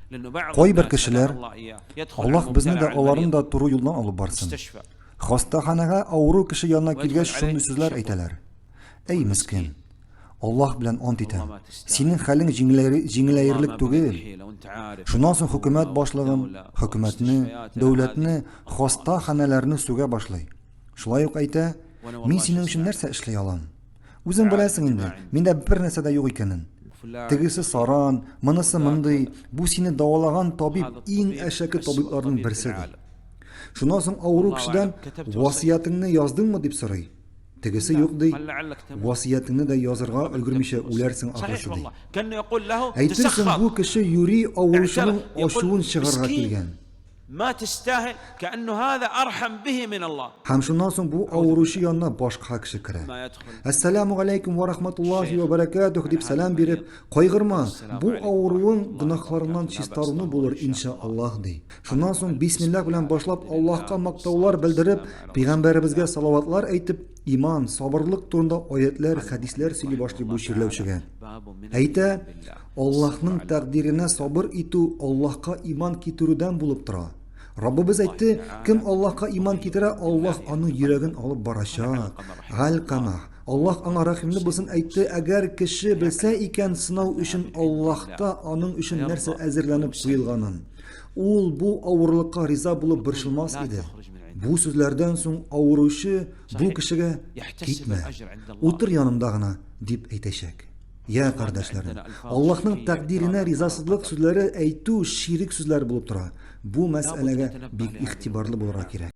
Кайбер кешеләр, Аллаһ безне дә, аларны да туры юлдан алып барсын. Хастаханәгә авыру кеше янына килгәч шундый сүзләр әйтәләр. Әй мескен! Аллаһ белән ант итәм, синең хәлең җиңеләерлек түгел. Шуннан соң хөкүмәт башлыгын, хөкүмәтне, дәүләтне, хаста ханәләрне сүгә башлый. Шулай ук әйтә, Мин синең өчен нәрсә эшли алам? Үзең беләсең инде, миндә бер нәрсә дә юк икәнен. Тегесе саран, монысы мондый, бу сине дәвалаган табиб иң әшәке табибларның берсе ди. Шуннан соң авыру кешедән васыятеңне яздыңмы дип сорый. Тегесе юк ди, васыятеңне дә язырга өлгермичә үләрсең ахрысы ди. Әйтерсең бу кеше юри авыручының ачуын чыгарга килгән. Ма тестахил, кәәннү һаза архам бихи мин Аллаһ. Һәм шуннан соң бу авыручы янына башка кеше керә. Әссәләмү галәйкүм вә рахматуллаһи вә бәрәкәтүһ, дип сәлам биреп, Кайгырма, бу авыруың гөнаһларыңнан чистаруны булыр, иншә Аллаһ, ди. Шуннан соң бисмиллаһ белән башлап Аллаһка мактаулар белдереп, пәйгамбәребезгә салаватлар әйтеп, иман, сабырлык турында аятьләр, хәдисләр сөйли башлый бу чирләүчегә. Әйтә, Аллаһның тәкъдиренә сабыр итү Аллаһка иман китерүдән булып тора. Раббыбыз әйтте, кем Аллаһка иман китерә, Аллаһ аның йөрәген алып барачак. Галь-Камах. Аллаһ аңа рәхимле булсын әйтте, әгәр кеше белсә икән сынау өчен Аллаһта аның өчен нәрсә әзерләнеп куелганын, ул бу авырлыкка риза булып борчылмас иде. Бу сүзләрдән соң авыручы бу кешегә, Китмә, утыр янымда гына, Дип әйтәчәк. Йә, кардәшләрем, Аллаһның тәкъдиренә ризасызлык сүзләре әйтү ширек сүзләр булып тора. Бу мәсьәләгә бик игътибарлы булырга кирәк.